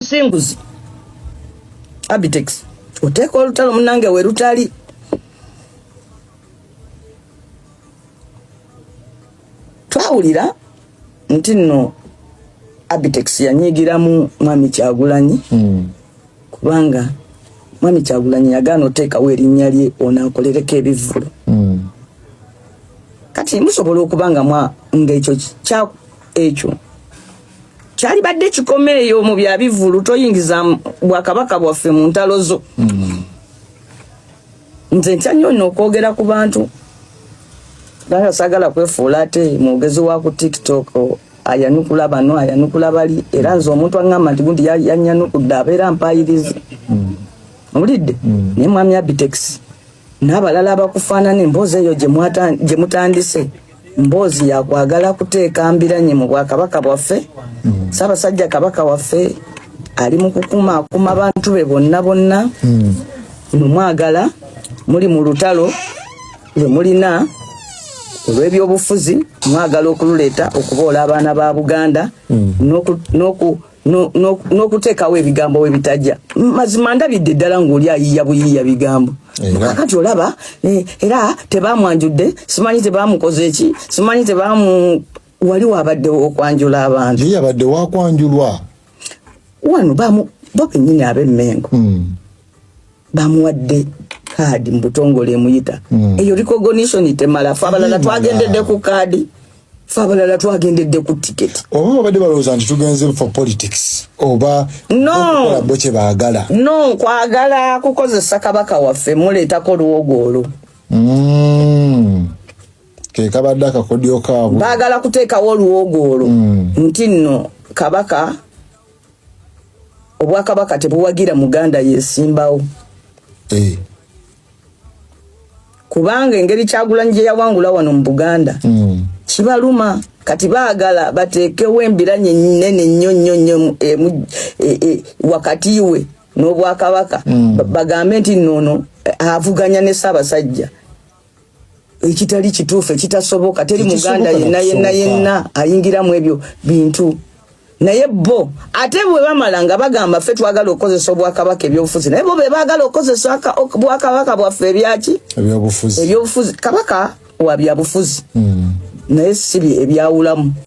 singuzi abitex oteeka olutalo munange we lutali twawulira nti nno abitex yanyigiramu mwami kyagulanyi hmm. kubanga mwami kyagulanyi yagaana oteekawo erinnya lye onaakolereko ebivvulu hmm. kati musobola okuba nga ekyo ekyo kyalibadde kikoma eyo mu bya bivulu toyingiza bwakabaka bwaffe mu ntalo zo mm. nze ntya nnyo no okwogera ku bantu banga sagala kwefuula ate mwogezi wa ku tiktok ayanukula bano ayanukula bali era nze omuntu aŋŋamba nti gundi yanyanukudde abeera mpayirizi mulidde mm. mm. naye mwami abitex n'abalala abakufaanana emboozi eyo gye mutandise mboozi yakwagala kuteeka mbiranye mu bwakabaka bwaffe mm. saabasajja kabaka waffe ali mu kukuma akuma bantu be bonna bonna mm. nomwagala muli mu lutalo lwe mulina olw'ebyobufuzi mwagala okululeeta okuboola abaana ba buganda mm. n'okuteekawo ebigambo we bitajja mazima ndabidde ddala ng'oli ayiiya buyiiya bigambo kakati olaba eh, era tebamwanjudde simanyi tebamukoze eki simanyi tebamu wali wabaddewo okwanjula abantu naye yabadde wakwanjulwa wano bamu bo bennyini ab'emmengo hmm. bamuwadde kaadi mubutongole emuyita hmm. eyo recognition temala fe abalala twagendedde ku kaadi fe abalala twagendedde ku tiketi oba babadde balowooza nti tugenze for politics oba nobo kyebaagala no kwagala kukozesa kabaka waffe muleetako luwogo olwo hmm. kekabadde akakodyo kaabwe baagala kuteekawo oluwogo olwo hmm. nti nno kabaka obwakabaka tebuwagira muganda yesimbawo eh. kubanga engeri kyagulanyi gye yawangula wano mu buganda mm. kibaluma kati baagala bateekewo embiranye nene nnyo nnyo nnyo e, e, e, wakati we n'obwakabaka mm. bagambe nti noono avuganya ne ssaabasajja ekitali kituufu ekitasoboka teri muganda yenna yenna yenna ayingiramu ebyo bintu naye bo ate bwe bamala nga bagamba ffe twagala okukozesa obwakabaka ebyobufuzi naye bo be baagala okukozesa obwakabaka bwaffe ebyaki ebyobufuzi kabaka wa byabufuzi hmm. naye si ebyawulamu